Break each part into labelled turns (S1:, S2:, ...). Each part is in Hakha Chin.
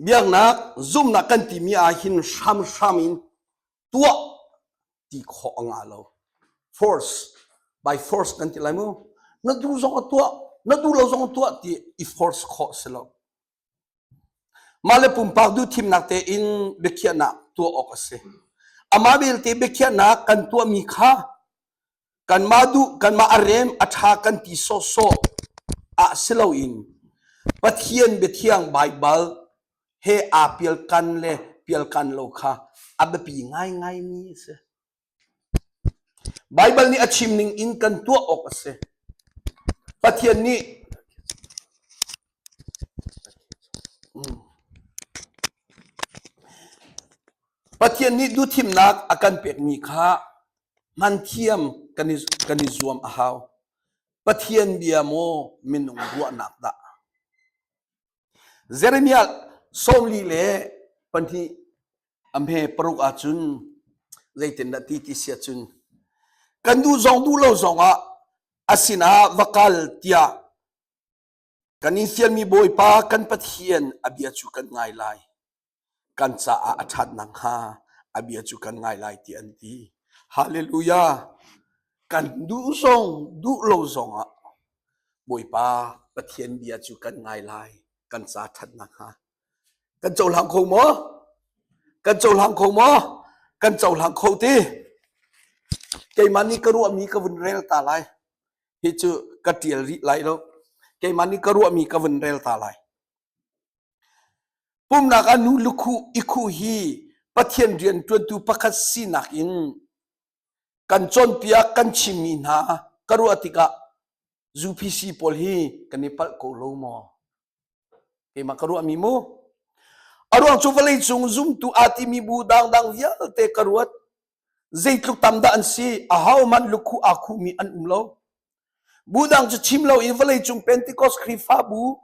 S1: biaknak zumnak kan timi ah hin hramhram in tuah ti khawh a ngah lo force by force kan ti lai mu na duh zong a tuah na duh lo zong tuah ti i force khawh si lo mah le pumpak duh thimnak te in biakhiahnak tuah awk a si amah belte biakhiahnak kan tuahmi kha kanmah duh kanmah a rem a ṭha kan ti sawhsawh ah si loin Pathian biathiang Baibal he aa pialkan le pialkan lo kha a biapi ngaingai mi a si. Baibal nih a chim ning in kan tuah awk a si. Pathian nih Pathian nih duhthimnak a kan pekmi kha Hnanthiam kan i zuam a hau. Pathian bia maw minung ruahnak dah? Jeremiah sawmli le pahnih a hme paruk ah cun zeitindah ti ti sia cun kan duh zong duh lo zongah a sinah va kal tiah Kan in fialmi Bawipa kan Pathian a bia cu kan ngai lai. Kan caah a ṭhat nakhnga a bia cu kan ngai lai ti an ti. Hallelujah! Kan duh zong duh lo zong ah Bawipa Pathian bia cu kan ngai lai. Kan ca ṭhat nakhnga. Kan cohlang kho maw? Kan cohlang kho maw? Kan cohlang kho ti. Keimah nih ka ruahmi ka vun rel ta lai. hi cu ka ṭial rih lai lo keimah nih ka ruahmi ka vun rel ta lai pumnak ah nu lukhu ikhu hi pathian rian ṭuantu pakhat sinak in kan cawnpiak kan chimmi hna ka ruah tikah zupc pawl hi kan i palh ko lo maw keimah ka ruahmi mu a ruang cu vawlei cung zumtu aa timi bu dangdang vialte ka ruat Zeitluk tam dah an si, ahohmanh lukhuh aa khuhmi an um lo. Budang cu chim lo i vawleicung Pentecost Khrihfabu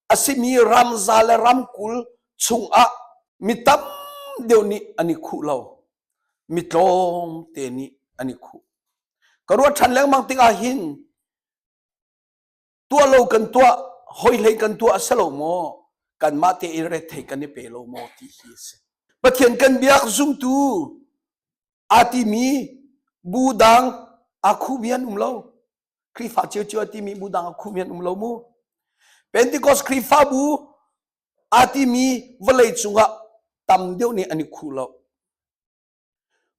S1: a simi ramza le ramkul chungah mi tam deuh nih an i khuh lo. Mi tlawmte nih an i khuh. Ka ruat ṭhan lengmang tikah hin tuah lo kan tuah hoi hlei kan tuah a si lo maw kanmah te i ret thei kan i pe lo maw ti hi a si pathian kan biak zumtu a timi bu dang akhu mian um lo krifa chiu chiu a timi bu dang akhu mian um lo mu pentecost krifabu a timi vawlei cungah tam deuh nih an i khu lo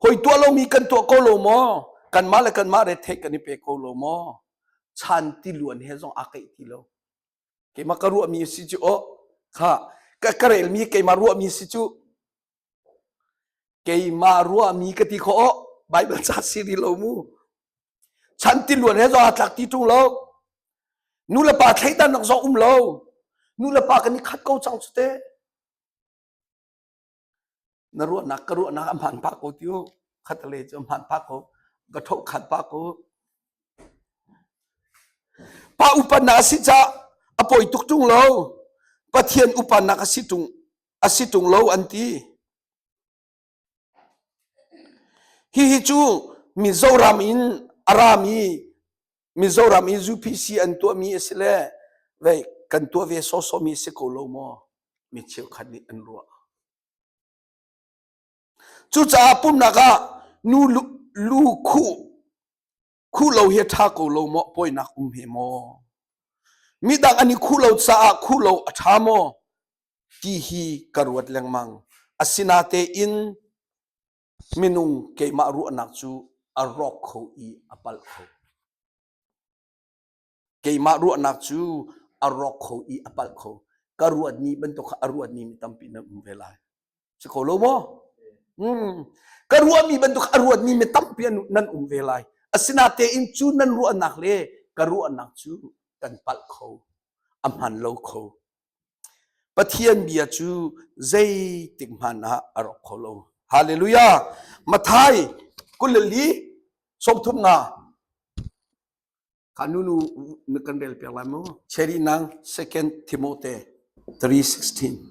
S1: Hoi tuah lomi kan tuah ko lo maw? Kanmah le kanmah retheih kan i pe ko lo maw? Chan ti luan he zong aa keih ti lo. Keimah ka ruahmi si cu o kha ka, ka relmi keimah ruahmi si cu keimah ruahmi ka ti khawh o Bible ca siri lo mu. Chan ti luan he zong aa tlak ti ṭung lo. Nu le pa thleidan nak zong um lo. Nu le pa kan i khat ko cang cu te. Na ruahnak ka ruahnak a hmaan pah ko ti u. Khatlei cu a hmaan pah ko. Ka thokhat pah ko. Pa upannak a si cah a poi tuk tung lo. Pathian upannak a si tung a si tung lo an ti. Hihi cu mi Zoram in a rami Mizoram i UPC an tuahmi a si le vei kan tuah ve sawsawmi si ko lo maw? Mi cheukhat nih an ruah. Cucaah pumnak ah nu lu, lu khu khu lo hi tha ko lo maw poinak um he maw midang ani khu lo caah khu lo a tha maw ti hi ka ruat lengmang asinatein Minung keimah ruahnak cu a rawk kho i a palh kho. Keimah ruahnak cu a rawk kho i a palh kho. Ka ruatmi bantuk kha a ruatmi mi tampi na um ve lai. Si kho lo maw? Hmm. Ka ruahmi bantuk a ruatmi mi tampi nan um ve lai. Asinatein cu nan ruahnak le ka ruahnak cu kan palh kho. A hman lo kho. Pathian bia cu zeitik hmanh ah a rawk kho lo. Hallelujah! Mathai kuleli sawmthum nga khanu nu na kan rel piak lai maw? Cheri nang 2 Timothy 3:16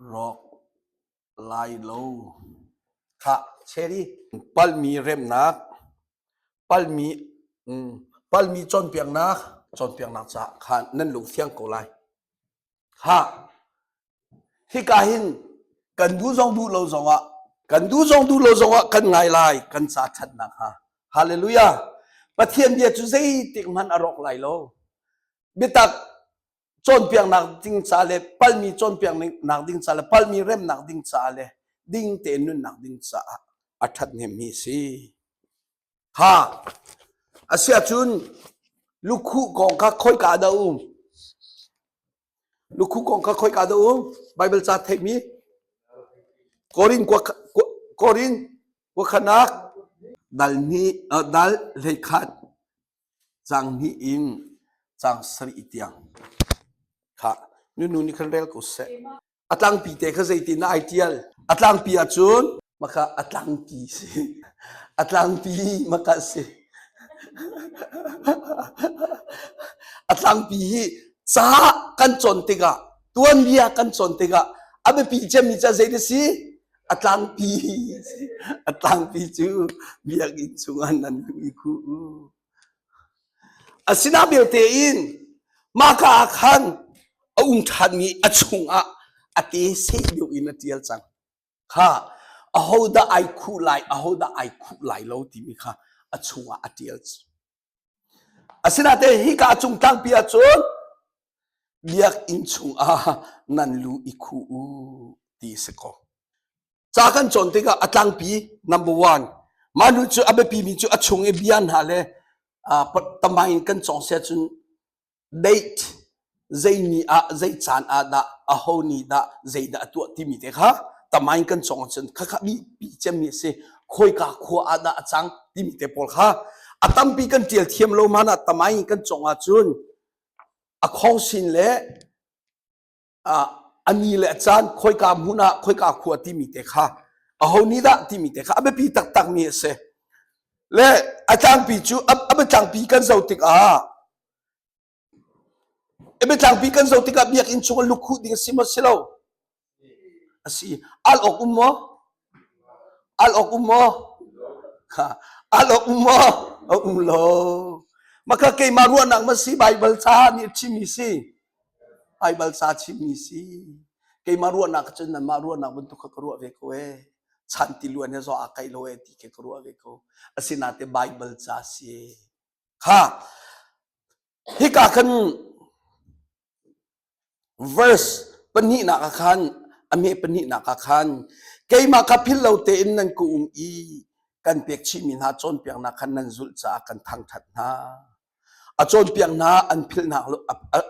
S1: Rawk lai lo. Khah Cheri, palhmi remnak, palhmi, um, palhmi cawnpiaknak, cawnpiaknak caah khan nan lungthiang ko lai. Khah, hika hin kan duh zong duh lo zongah, kan duh zong duh lo zongah kan ngai lai kan ca ṭhatnak hnga. Hallelujah! Pathian bia cu zeitik hmanh a rawk lai lo. Biatak cawnpiaknak ding ca le palmi cawnpiaknak ding ca le palmi remnak ding caah le ding tein nunnak ding caah a ṭhat hnemmi si ha asiahcun lukhu kong kha khoika dah um lukhu kong kha khoika dah um bible ca theihmi korin korin wakhanak dal ni dal hleikhat Caang hnih in caang sarih tiang kha nunu nih khan rel ko seh. A tlangpi te kha zeitin na ai ṭial? A tlangpi ahcun maka a tlangpi si. A tlangpi maka si. A tlangpi hi ca kan cawn tikah, tuanbia kan cawn tikah a biapi cemmi ca zei na si? a tlangpi a tlangpi cu biakinn chungah nan luh i khuh u asinain belte in mahka ah khan a um ṭhanmi a chungah a te seh deuh in a ṭial cang kha ahodah ai khuh lai ahodah ai khuh lai lo timi kha a chungah a ṭial Asinain hika a cung tlangpi ahcun biakinn chungah nan lu i khuh u ti a si ko. Ca kan cawn tikah a tlangpi number one mah nu cu a biapimi cu a chung i bia hna le ah, tamai in kan cawng si ahcun Date zei ni ah zei caan ah dah aho ni dah zeidah a tuah timi te kha tamain kan cawng ahcun khakha mipi cemmi a si khoika khua ah dah a cang timi te pawl kha a tampi kan ṭial thiam lo man ah tamain kan cawng ahcun a khawngsin le a ni le a caan khoika hmun ah khoika khua timi te kha aho ni dah timi te kha a biapi taktak mi a si le a tlangpi cu a biatlangpi kan zo tik ah a biatlangpi kan zo tikah biakinn chung a luk huh ding a si maw si lo a si al awk um maw Al awk um maw? Al awk um maw? A um lo. Maka keimah ruahnak ma si Baibal ca nih a chimmi si. Baibal ca chimmi si. Keimah ruahnak cun nanmah ruahnak bantuk kha ka ruah ve ko ee. Chan ti luan he zo aa kaih lo ee ti ke ka ruah ve ko. Asinain Baibal ca si. Ha. Hika kan verse pahnihnak ah khan a meh pahnihnak ah khan keimah kha philh lo tein nan ka um i kan pek chihmi hna cawnpiaknak khan nan zulh caah kan thangṭhat hna a cawnpiak hna an philh hna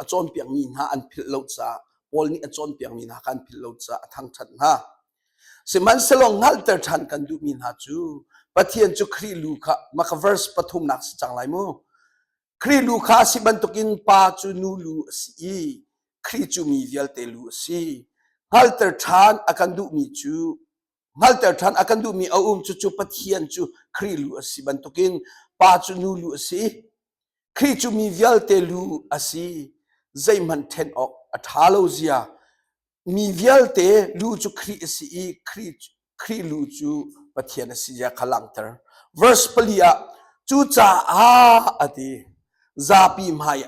S1: a cawnpiakmi hna an philh lo caah Paul nih a cawnpiakmi hna kha an philh lo caah a thangṭhat hna sihmanhsehlaw hngalhter ṭhan kan duhmi hna cu Pathian cu Khrih lu kha maka verse pathumnak si cang lai mu Khrih lu kha a si bantukin pa cu nu lu a si i Khrih cu mi vialte lu a si. Hngalter ṭhan a kan duhmi cu hngalter ṭhan a kan duhmi a um cucu Pathian cu Khrih lu a si bantukin pa cu nu lu a si. Khrih cu mi vialte lu a si. Zeihmanh ṭhen awk a ṭha lo zia Mi vialte lu cu Khrih a si i Khrih lu cu Pathian a si zia kha langhter. Verse pali ah cucaah a ti zapi hmai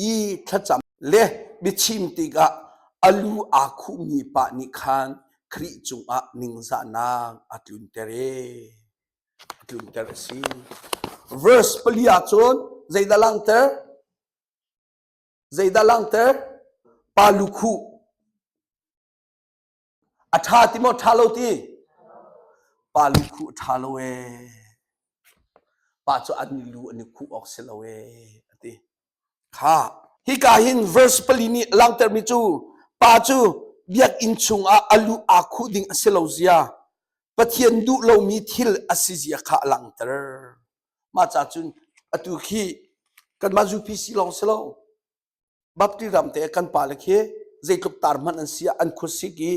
S1: i thlacam le biachim tikah a lu aa khuhmi pa nih khan Khrih cungah ningzahnak a tlunter e a tlunter a si verse pali ah cun zeidah langhter Zeidah langtek? Pa lukhuh. A ṭha ti maw ṭha lo ti? Pa lukhuh ṭha lo ee. Pa cu an lu an i khuh awk si lo ee, a ti. Kha. Hika hin verse pali nih langtermi cu pa cu biakinn chungah a lu aa khuh ding a si lo zia, Pathian duh lomi thil a si zia kha a langter. Mah ca cun atu khi kanmah zu PC lawng si lo Baptist ram te kan pa le khi zeitluk tar hmanh an si an khursik i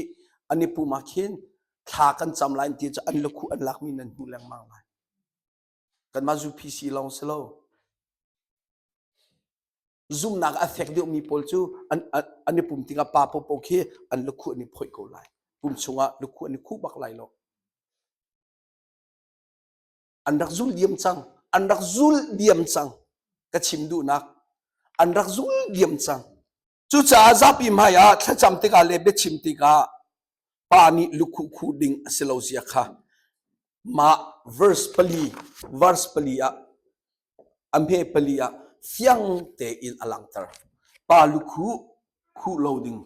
S1: an i pum ah khin thla kan cam lai ti cu an lakhu an lakmi nan hmu lengmang lai kanmah zu PC lawng si lo zumnak a fek deuhmi pawl cu an an i pum tingah pa popo khi an lakhu an i phoi ko lai pum chungah lakhu an i khu bak lai lo an rak zul diam cang an rak zul diam cang ka chim duhnak an rak zul diam cang cucaah zapi hmai ah thlacam tikah le biachim tikah pa nih lukhu khu ding a si lo zia kha mah verse pali verse pali ah a hme pali ah fiang tein a langhter pa lukhu khu lo ding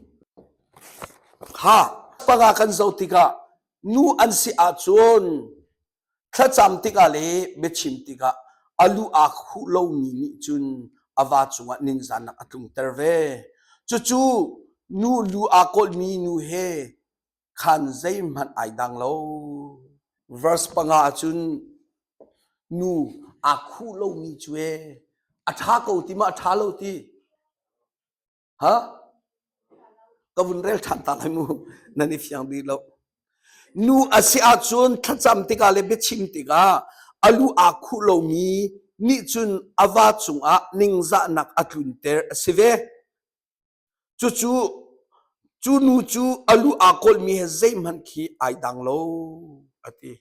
S1: ha panga kan zoh tikah nu an si ahcun Thlacam tikah le biachim tikah a lu aa khuh lomi nih cun a va cungah ningzahnak a tlungter ve. Cucu nu lu aa kawlhmi nu he khan zeihmanh ai dang lo. Verse panga ah cun nu aa khuh lomi cu ee a ṭha ko ti ma a ṭha lo ti ha ka vun rel ṭhan ta lai mu nan i fiang dih lo nu a si ahcun thlacam tikah le biachim tikah a lu aa khuh lomi nih cun a va cungah ningzahnak a tlunter a si ve cucu cu nu cu a lu aa kawlmi he zeihmanh khi ai dang lo a ti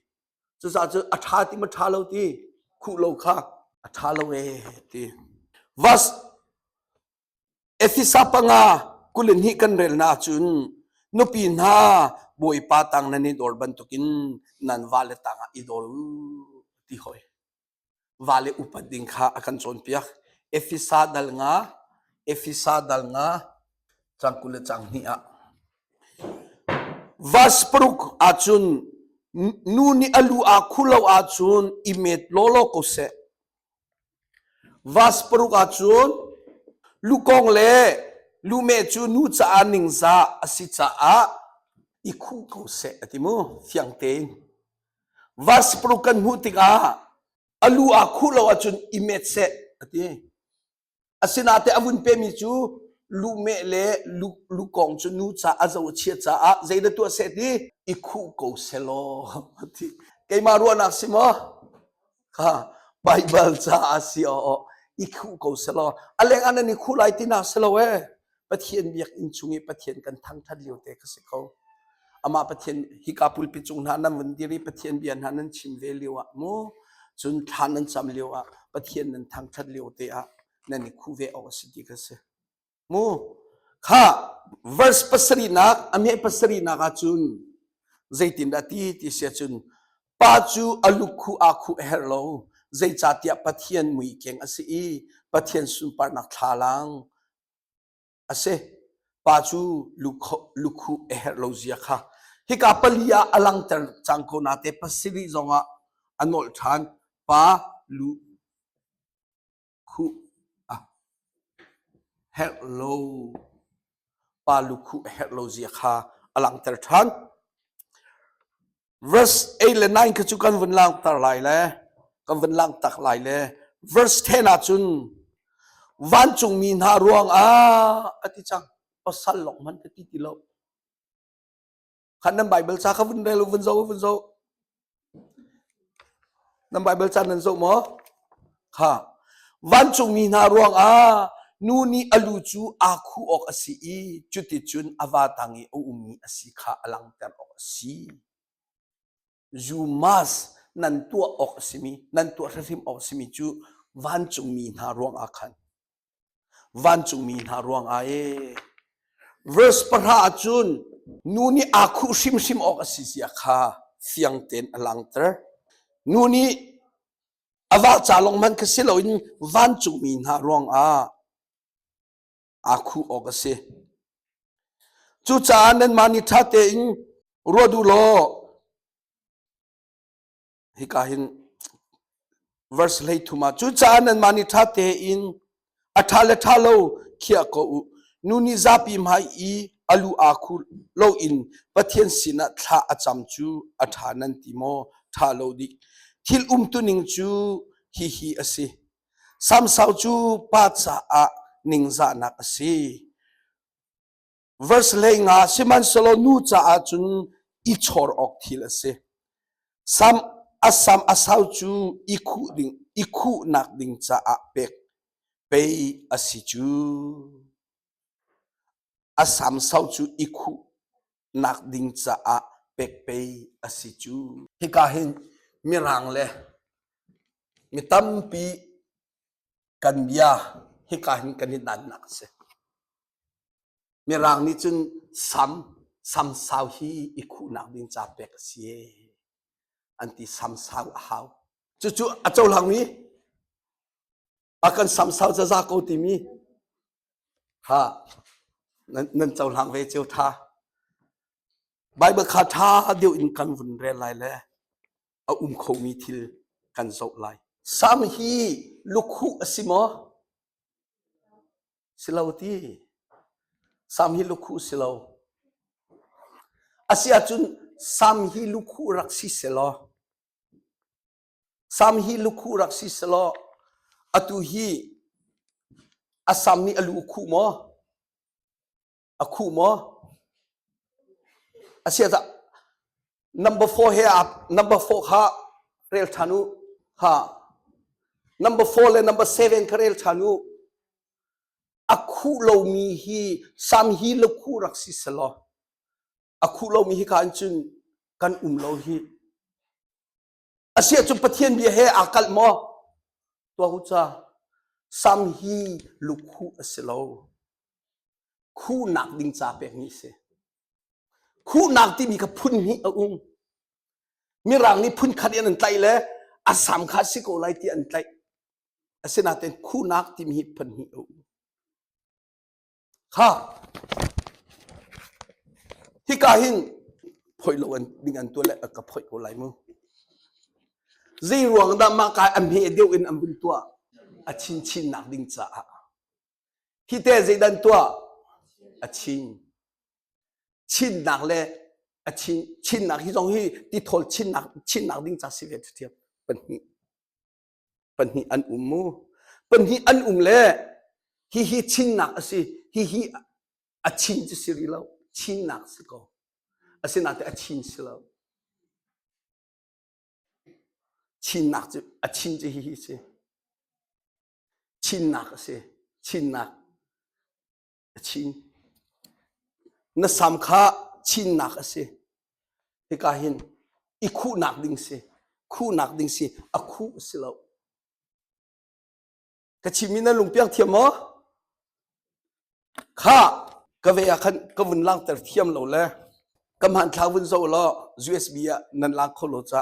S1: cucaah cun a ṭha ti ma ṭha lo ti khuh lo kha a ṭha lo ee ti verse Efesa panga kul in hih kan relnak ahcun nupi hna Bawipa tang nan i dor bantukin nan vale tangah i dor u ti hoi. Vale upat ding kha a kan cawnpiak. Efesa dal nga, Efesa dal nga, cang kul le cang hnih ah. Vas paruk ahcun nu nih a lu aa khu lo ahcun i met lawlaw ko seh. Vas paruk ahcun lukong le lumeh cu nu caah ningzah a si caah i khuh ko seh a ti mu fiang tein. Vas paruk kan hmuh tikah a lu aa khuh lo ahcun i met seh a ti. Asinain a vun pemi cu luhmeh le lukong cu nu caah a zo a chia caah zei na tuah seh ti i khuh ko selaw ti keimah ruahnak si maw ha Baibal caah si aw i khuh ko selaw a leng an i khuh lai ti nak si lo ee Pathian biakinn chung i Pathian kan thangṭhat lio te kha si ko. Amah Pathian hika pulpi cung hna nan vun dir i Pathian bia hna nan chim ve lio ah mu cun thlan nan cam lio ah Pathian nan thangṭhat lio te ah nan i khu ve awk a si ti kha si. Mu kha verse pasarinak a meh pasarinak ah cun zeitindah ti ti sia cun pa cu a lukhu aa khu a herh lo zeicatiah Pathian muikeng a si i Pathian sunparnak thlalang A si, pa cu lukhuh a herh lo zia kha hika pali ah a langhter cang ko nate pasarih zongah a nolh ṭhan. Pa lu khuh a herh lo pa lukhuh a herh lo zia kha a langhter ṭhan. verse 8 le 9 kha cu kan vun langhter lai le kan vun langhtak lai le verse 10 ah cun vancungmi hna ruangah a ti cang pasal lok man ka ti ti lo khan nan bible sa kha vun rel vun zo vun zo nan bible sa nan zo maw kha vancungmi hna ruangah nu nih a lu cu aa khuh awk a si i cuticun a va tang i a ummi a si kha a langhter awk a si. You must nan tuah awk a simi, nan tuah hrimhrim awk a simi cu vancungmi hna ruangah khan vancungmi hna ruangah e verse pahra ahcun nu nih aa khuh hrimhrim awk a si zia kha fiang tein a langhter nu nih A vah ca lawng hmanh kha si loin vancungmi hna ruangah aa khuh awk a si. Cucaah nanmah nih ṭha tein ruat u law hika hin verse hleithum ah cucaah nanmah nih ṭha tein A ṭha le ṭha lo khiah ko u. Nu nih zapi hmai i a lu aa khur loin Pathian sinah thla a cam cu a ṭha nan ti maw? Ṭha lo dih. Thil umtuning cu hihi a si. Samsau cu pa caah ningzahnak a si. Verse hlei nga sihmanhsehlaw nu caah cun i chor awk thil a si. Sam a sam a sau cu i khuh ding i khuhnak ding caah pek pei a si cu. A sam sau cu i khuh nak ding caah pek pei a si cu. Hika hin mirang le mi tampi Kan bia hika hin kan i dannak a si. Mirang nih cun sam, sam sau hi i khuhnak ding ca pek a si an ti sam sau a hau. Cucu a cohlangmi a kan sam sau zaza ko timi ha nan, nan cohlang ve cio tha. Bible kha tha deuh in kan vun rel lai le a um khomi thil kan zoh lai. Sam hi lukhuh a si maw? Si lo ti. Sam hi lukhuh si lo. A si ahcun sam hi lukhuh rak si selaw, sam hi lukhuh rak si selaw, atu hi a sam nih a lu khuh maw? A khuh maw? A siasah, number four he ap number four kha rel ṭhan u ha number four le number seven kha rel ṭhan u a khuh lomi hi sam hi lakhuh rak si selaw a khuh lomi hi ka an cun kan um lo hi asiah cu pathian bia he aa kalh maw tuah u ca sam hi lukhuh a si lo khuhnak ding ca pek ni si khuhnak timi kha phun hnih a um mirang nih phun khat in an tlaih le a sam kha si ko lai ti an tlaih asinain khuhnak timi hi phun hnih a um Hika hin phoih lo an ding an tuah le ka phoih ko lai mu. Zeiruang dah mah kai a hme deuh in an vun tuah a chin chin nak ding caah. Hi te zeidan tuah a chin. Chinnak le a chin chinnak hi zong hi ti thol chinnak chinnak ding ca si ve thiam pan hi. Pahnih an um mu. Pahnih an um le hihi chinnak a si. Hihi a chin cu si rih lo. Chinnak si ko. Asinain a chin si lo. Chinnak cu a chin cu hihi si. Chinnak a si. Chinnak a chin. Na sam kha chinnak a si. Hika hin i khuhnak ding si. Khuhnak ding si. A khuh si lo. Ka chim in na lungpiang thiam maw? Kha ka ve ah khan ka vun lang ter thiam lo le ka man thla vun zo law USB ah nan lang kho lo ca.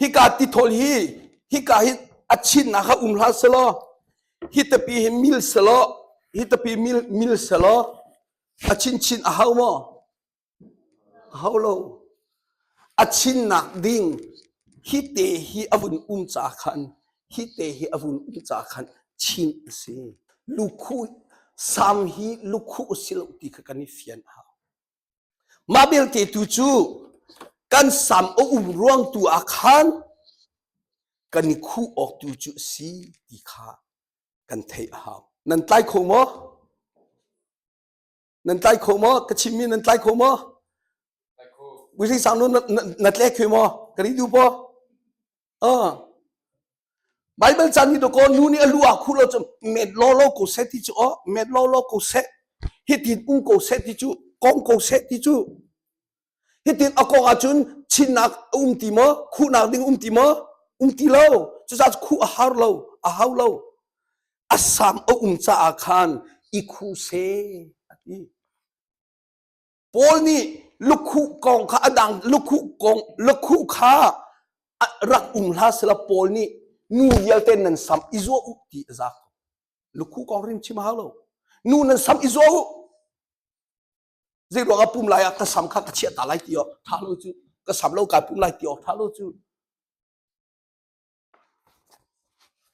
S1: Hika tithol hi hika hi a chinnak ah um hlah selaw hi tapi hi mil selaw hi tapi mil mil selaw a chinchin a hau maw? A hau lo. A chinnak ding hi te hi a vun um ca khan hi te hi a vun um ca khan chin a si. Lukhu sam hi lukhu si lo ti kha kan i fian a hau. Mah belte tu cu kan sam a um ruang tu ah khan kan i khuh awk tu cu a si ti kha kan theih a hau. Nan tlai kho maw? Nan tlai kho maw? Ka chimmi nan tlai kho maw? Wising sang nu na tle khe maw? Ka ri du paw? Baibal caan hi dawkaw nu nih a lu aa khuh lo cun met lawlaw ko seh ti cu aw met lawlaw ko seh hitin um ko seh ti cu kong ko seh ti cu hitin a kong ahcun chinnak a um ti maw khuhnak ding um ti maw um ti lo cucaah khuh a har lo a hau lo a sam a um caah khan i khuh seh a ti Paul nih lukhuh kong kha a dang lukhuh kong lukhuh kha rak um hlah sela Paul nih nu vialte nan sam i zuah u ti a za ko. Lukhuh kong rim chim hau lo. Nu nan sam i zuah u. Zei ruang ah pum lai ah ka sam kha ka chiah ta lai ti awk tha lo cu. Ka sam lo kai pum lai ti awk tha lo cu.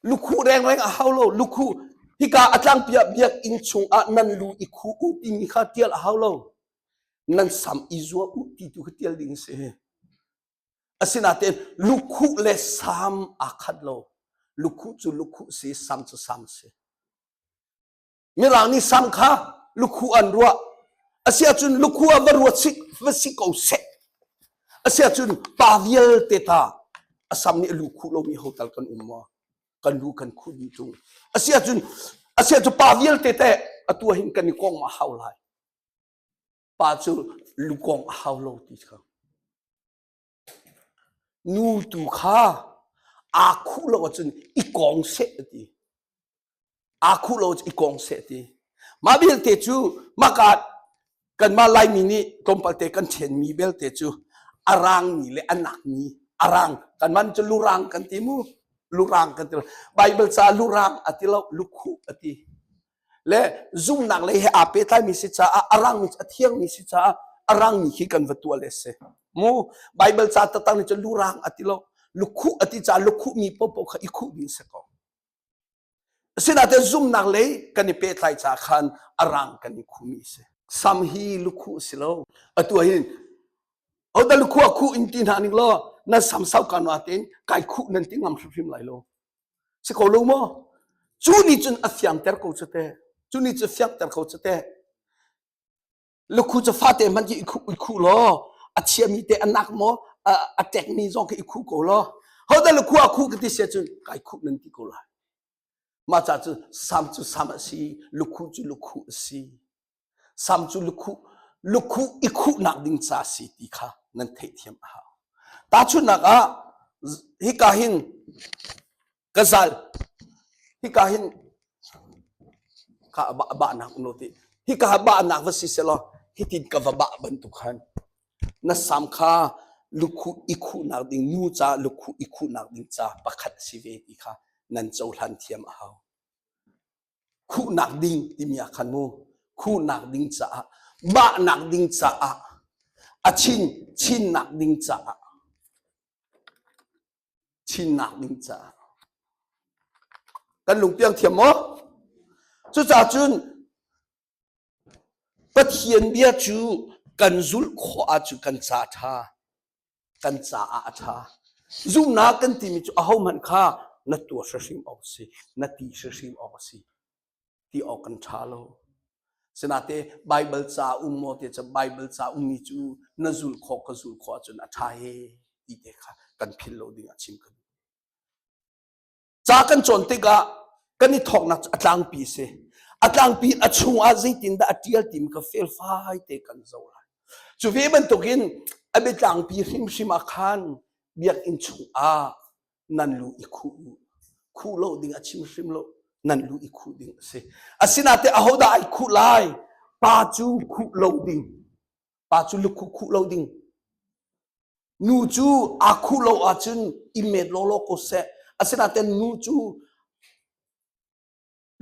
S1: Lukhuh rengreng a hau lo. Lukhuh hika a tlangpi ah biakinn chungah nan lu i khuh u timi kha tial a hau lo. Nan sam i zuah u ti tu kha tial ding a si. Asinain lukhuh le sam aa khat lo. Lukhuh cu lukhuh si, sam cu sam si. mirang nih sam kha lukhu an ruah asiahcun lukhu ah va ruat sik va si ko seh asiahcun pa vialte ta asam nih lu khu lomi ho tal kan um maw kan lu kan khu dih tung asiahcun asiahcun pa vialte te atua hin kan i kong ma hau lai pa cu lukong a hau lo ti kha Nu tu kha aa khuh lo ahcun i kawng seh a ti. Aa khuh lo ahcun i kawng seh a ti. Mah vialte cu maka kanmah Laimi nih tlawmpal te kan ṭhenmi belte cu a rangmi le a nakmi a rang kanmah cu lurang kan ti mu. Lurang kan ti lo. Baibal caah lurang a ti lo, lukhuh a ti. le zumhnak lei he aa pehtlaimi si caah a rangmi a thiangmi si caah a rangmi khi kan va tuah le si mu bible ca tatang nih cun lu rang a ti lo lukhu a ti caah lukhu mi popo kha i khuh ding si ko asinain zumhnak lei kan i pehtlai ca khan a rang kan i khumi si sam hi lukhu si lo atu hin oda lukhu a khu in ti hna ning law na sam sau kan wa tin kai khu nan ti ngam hrimhrim lai lo Si ko lo maw? Cu ni cun a fiangter ko cu te. Cu ni cu fiangter ko cu te. Lukhu cu fate hmanh khi i khu, i khu law a chiami te a nak maw a, a tekmi zong khi i khu ko law ho da lukhu a khu ka ti sia cun kai khu nan ti ko lai. Mah ca cu sam cu sam a si, lukhu cu lukhu a si. Sam cu lukhuh lukhuh i khuhnak ding ca si ti kha nan theihthiam a hau. Tahchunhnak ah hika hin gazal hika hin ka bahnak no ti hika ha bahnak va si selaw hitin ka va bah bantuk khan na sam kha lukhu i khuhnak ding nu ca lukhu i khuhnak ding ca pakhat a si ve ti kha nan cohlan thiam a hau. khuhnak ding timi ah khan mu khuhnak ding caah bahnak ding caah a chin chinnak ding caah chinnak ding caah kan lungpiang thiam maw cucahcun Pathian bia cu kan zulh khawh ahcun kan ca ṭha kan caah a ṭha. Zumhnak kan timi cu ahohmanh kha na tuah hrimhrim awk a si, na ti hrimhrim awk a si ti awk kan ṭha lo. Sinate Baibal ca um maw ti cu Baibal ca ummi cu na zul khawh ka zul khawh ahcun a ṭha ee ti te kha kan philh lo ding ah chim ka duh. ca kan cawn tikah kan i thawknak a tlangpi si a tlangpi a chungah zeitindah a ṭial tim ka felfai te kan zo lai cu ve bantukin a biatlangpi hrimhrim ah khan biakinn chungah nan lu i khuh u khuh lo ding a chim hrim lo nan lu i khuh ding a si asinate ahodah ai khuh lai pa cu khuh lo ding pa cu lukhuh khuh lo ding nu cu aa khuh lo ahcun i met lawlaw ko seh asinain nu cu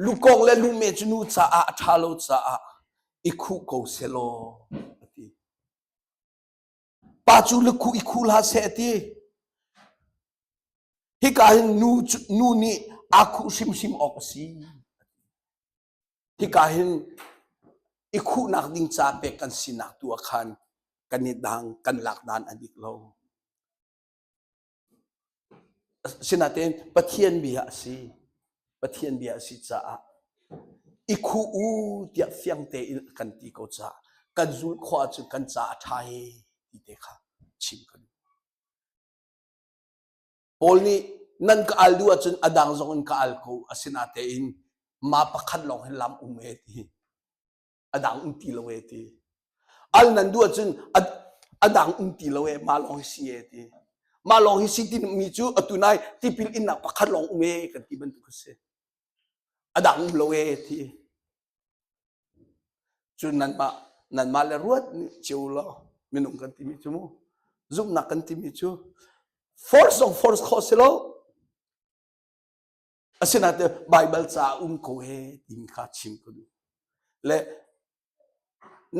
S1: lukong le lume cu nu caah a ṭha lo caah i khuh ko selaw a ti pa cu lukhuh i khuh hlah seh ti hika hin nu nu nih aa khuh hrimhrim awk a si Hika hin i khuhnak ding ca pek kan sinak tu ah khan kan i dang kan lak dan a dik lo. Asinain Pathian bia a si. Pathian bia a si caah i khuh u tiah fiang tein kan ti ko caah kan zul khua cu kan ca a ṭha e ti te kha chim kan Paul nih nan ka al duh ahcun a dang zong in ka al ko asinatein ma pakhat lawng hin lam um e ti a dang um ti lo e ti al nan duh ahcun a dang um ti lo e ma lawng hi si e ti ma lawng hi si ti mi cu atu nai tipil innak pakhat lawng um e kan ti bantuk a si a dang um lo e ti Cun nanmah nanmah le ruat nih ceu law minung kan timi cu mu zumhnak kan timi cu force of force kho si lo asinain Baibal ca um ko he tin kha chim ko du le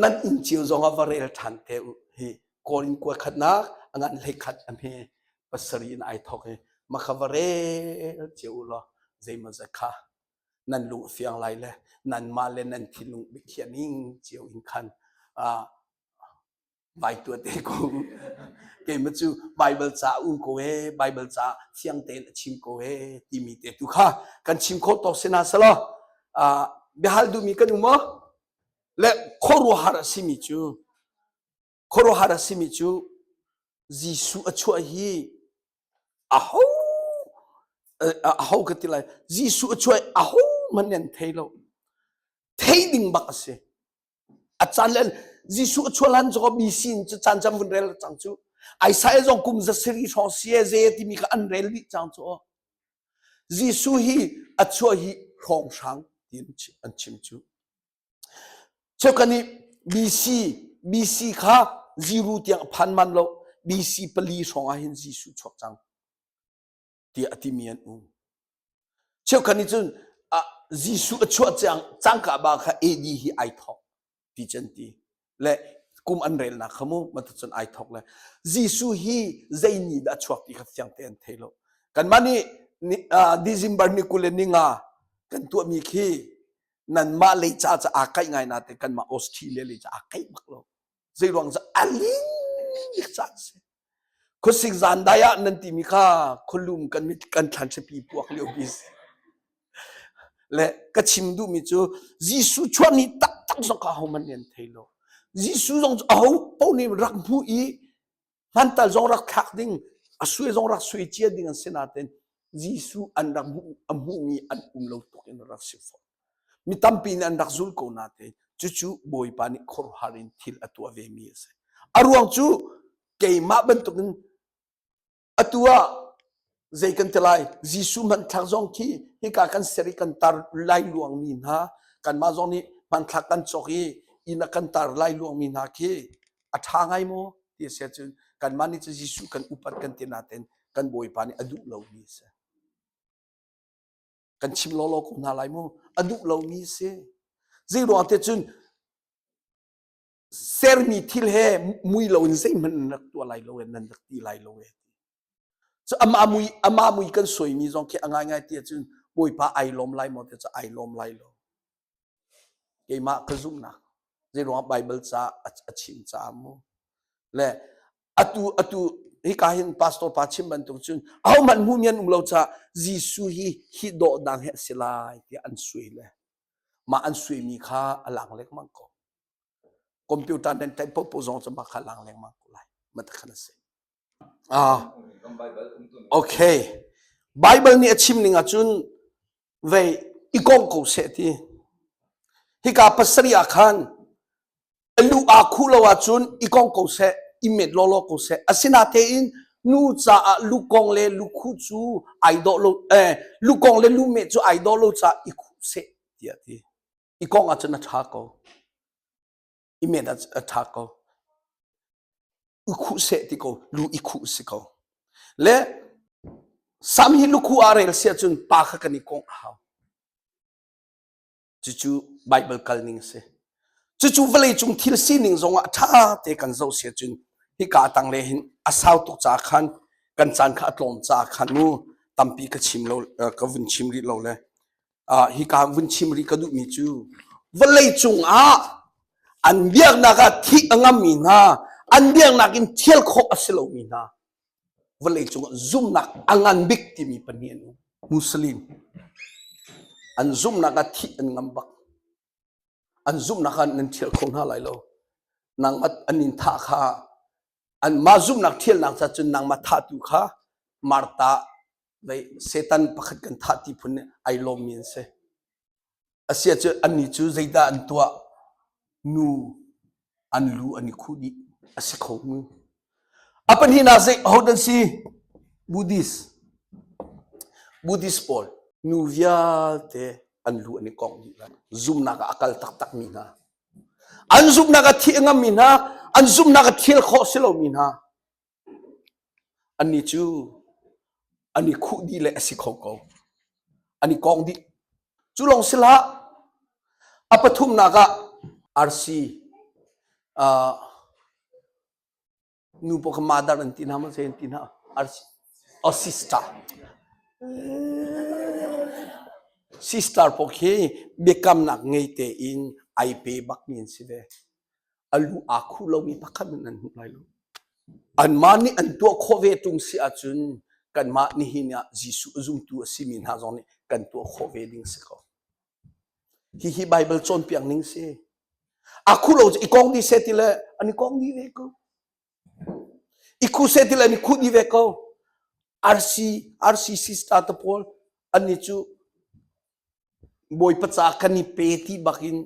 S1: nan in ceu zong ah va rel ṭhan te u hi korin kua khatnak angan hlei khat amhe pasari in ai thok he makha va rel ceu u law zeimazat kha nan luh fiang lai le nanmah le nan thinlung biakhiah ning cio in khan uh, vai tua te ko keima cu bible ca u ko e bible ca fiang tein a chim ko e timi te tu kha kan chim kho to sena selo uh, biahal du mi kan umo le khoru har asimi cu khuaruahhar a simi cu Jesuh a chuah hi aho aho ka ti lai Jesuh a chuah aho hmanh an thei lo thei ding bak a si a caan le Jesuh a chuah lan zaw mi sin cu caan jam vun rel cang cu Isaiah zong kum za seri hrawng sie ze timi ka an rel dih cang cu Jesuh hi a chuah hi hrawng hrang ti an chim cu Cu kan i BC BC kha ziru tiang a phan man lo BC pali hrawngah hin Jesuh chuak cang tiah a timi an um. Cheu kan i cun Jesuh a chuah cang cangka ba kha AD hi ai thawk ti can ti. le kum an relnak kha mu bantuk cun ai thok le Jesuh hi zei ni dah a chuak ti kha thiang te an thei lo kanmah nih December ni kul le ni nga kan tuahmi khi nanmah lei ca ca aa kaih ngai na te kanmah Australia lei ca aa kaih bak lo zei ruang cu a lin ca a si Khuasik zan dai ah nan timi kha khualum kan kan thlanchapi puak lio pi si. Le ka chim duhmi cu Jesuh chuah ni taktak zong ka homan nih an thei lo. Jesuh zong cu aho paoh nih rak hmu i hmantal zong rak thlak ding a sui zong rak sui cia ding an si nain Jesuh an rak hmuh a hmuhmi an um lo tuk in rak si fawn. Mi tampi nih an rak zul ko natein cucu Bawipa nih khuaruahhar in thil a tuah vemi a si. A ruang cu keimah bantukin atu ah zei kan ti lai Jesuh hmanthlak zong khi hika kan ser i kan tar lai luangmi hna kanmah zong nih hmanthlak kan cawk i inn a kan tar lai luangmi hna khi a ṭha ngai maw ti a si ahcun kanmah nih cu Jesuh kan upat kan ti natein kan Bawipa nih a duh lomi a si. kan chim lawlaw ko hna lai mu a duh lomi si zeiruang te cun sermi thil he mui lo in zeihmanh nan rak tuah lai lo e nan rak ti lai lo e so ama mui ama mui kan soimi zong khi a ngai ngai ti cun bawipa ai lawm lai maw te cu ai lawm lai lo keimah ka zumhnak zeiruangah Baibal ca a chim caah mu le atu atu hika hin pastor pa chim bantuk cun ahohmanh hmu mi an um lo caah Jesuh hi hi dawhdang hi a si lai tiah an sui le mah an sui mi kha a lang lengmang ko computer nan type popo zong cu mah kha lang lengmang ko lai matakhan a si Baibal nih a chimning ahcun vei i kawng ko seh ti. Hika pasarih ah khan a lu aa khuh lo ahcun i kawng ko seh, i met lawlaw ko seh. Asinatein nu caah lukong le lukhu cu ai dawh lo, eh, lukong le lume cu ai dawh lo caah i khuh seh tiah a ti. I kawng ahcun a ṭha ko. imen a tha ko u khu se ti ko lu i khu si ko le sam hi lukhu a rel sia cun pa kha kan i kong a hau cucu bible kal ning si cucu vawlei cung thil sining zong ah tha te kan zo sia cun hika tang le hin a sau tuk ca khan kan caan kha a tlawm ca khan mu tampi ka chim lo ka vun chim rih lo le ah hika vun chim rih ka duhmi cu vawlei cungah an biaknak ah thih a ngammi hna an biaknak in thial khawh a si lomi hna vawlei cungah zumhnak a ngan bik timi pahnih an um muslim an zumhnak ah thih an ngam bak an zumhnak ah nan thial kho hna lai lo nang an in thah kha an mah zumhnak thialnak ca cun nangmah thahtu kha marta Satan pakhat kan thah ti phun nih ai lawmmi an si. Asiah cu annih cu zeidah an tuah? Nu an lu an i khuh dih a si kho mu. A pahnihnak zei ahodah an si? Buddhist. Buddhist pawl nu vialte an lu an i kong dih lai. Zumhnak ah a kal taktakmi hna. An zumhnak a thih a ngammi hna, an zumhnak a thil khawh si lomi hna. An i cu an i khuh dih le a si kho ko. An i kawng dih. Cu lawng si hlah, a pathumnak ah arsi, ah nu paoh kha madar an ti hna, mahle an ti hna. Arsi, oh sister. Sister paoh khi biakamnak ngei tein ai pe bakmi an si ve. a lu aa khu lomi pakhat in an hmuh lai lo. Anmah nih an tuah khawh ve ṭung si ahcun kanmah nihin ah Jesuh zumtu a simi hna zong nih kan tuah khawh ve ding si ko. Hihi Baibal cawnpiak ning si. A khu lo i kong di se ti le an i kong di ve ko. I khu se ti le an i khu di ve ko. RC RCC star te pawl an ni cu bawi paca kan i pe ti bak in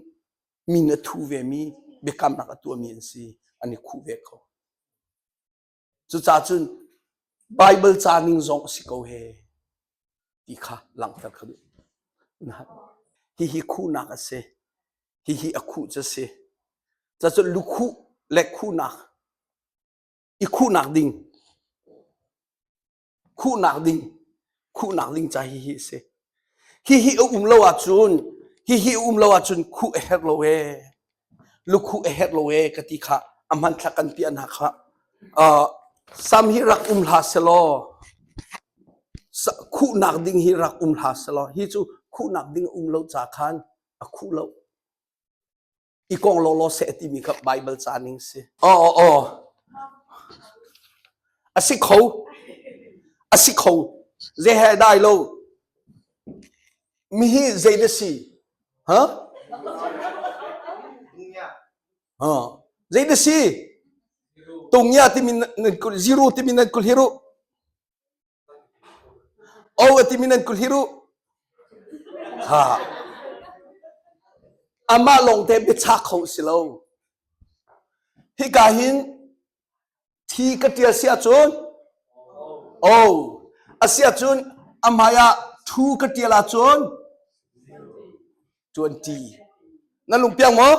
S1: Mi nih a thuh vemi biakamnak a tuahmi an si, an i khuh ve ko. Cucaah cun Baibal ca ning zong a si ko he ti kha langhter ka duh. Hihi khuhnak a si. Hihi a khuh cu a si. Cacun lukhuh le khuhnak, i khuhnak ding khuhnak ding khuhnak ding ca hi hi a si hihi a um lo ahcun hihi a um lo ahcun khuh a herh lo e lukhuh a herh lo e ka ti kha a hmanthlak kan piah hna kha sam hi rak um hla selaw khuhnak ding hi rak um hla selaw hi cu khuhnak ding um lo ca khan a khuh lo i kawng lawlaw seh timi kha Baibal ca ning si. Oh, oh, oh. A si kho. A si kho. Ze he dai lo. Mi hi zei na si? Ha? Ha. Zei na si? Tung ya timi nan zero timi nan kul hiru. O a timi nan kut hir u. Ha. Amah lawngte biacha kho si lo. Hika hin thi ka ṭial si ahcun o a si ahcun a hmai ah thu ka ṭial ahcun Cuanṭi. Na lung piang maw?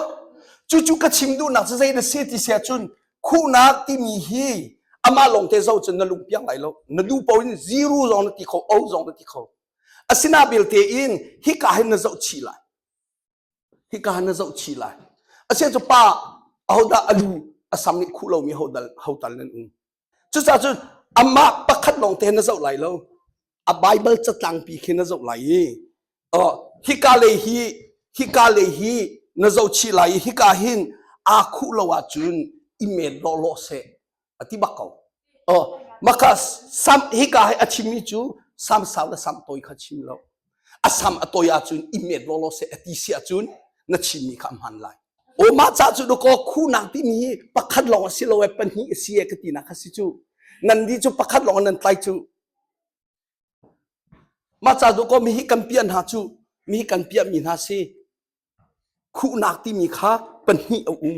S1: Cucu ka chim duhnak cu zei na si ti siah cun khuhnak timi hi amah longte zo cun na lung piang lai lo. Na nu paoh in ziru zong na ti kho, o zong na ti kho. Asina belte in hika hin na zoh chih lai. Hika hin na zoh chih lai. Asian cu pa ahodah alu asam nih khuh lomi hodal hotal nan um. Cucaah cun amah pakhat lawng te na zoh lai lo. A Bible catlangpi khi na zoh lai i hika lei hi hika lei hi na zohchih lai i hika hin aa khuh lo ahcun i men lawlaw seh a ti bak ko. Oh, maka sam hika hi a chimmi cu sam sau le sam tawi kha chim lo. a sam a toi ahcun i met lawlaw seh a ti si ahcun na chinmi kha a hman lai aw mah ca cu dawkaw khunak timi hi pakhat lawng a si lo ee pahnih a si ee ka tinak kha si cu nan nih cu pakhat lawng nan tlai cu mah ca dawkaw mi hi kan piah hna cu mi hi kan piah mi hna si khuhnak timi kha pahnih a um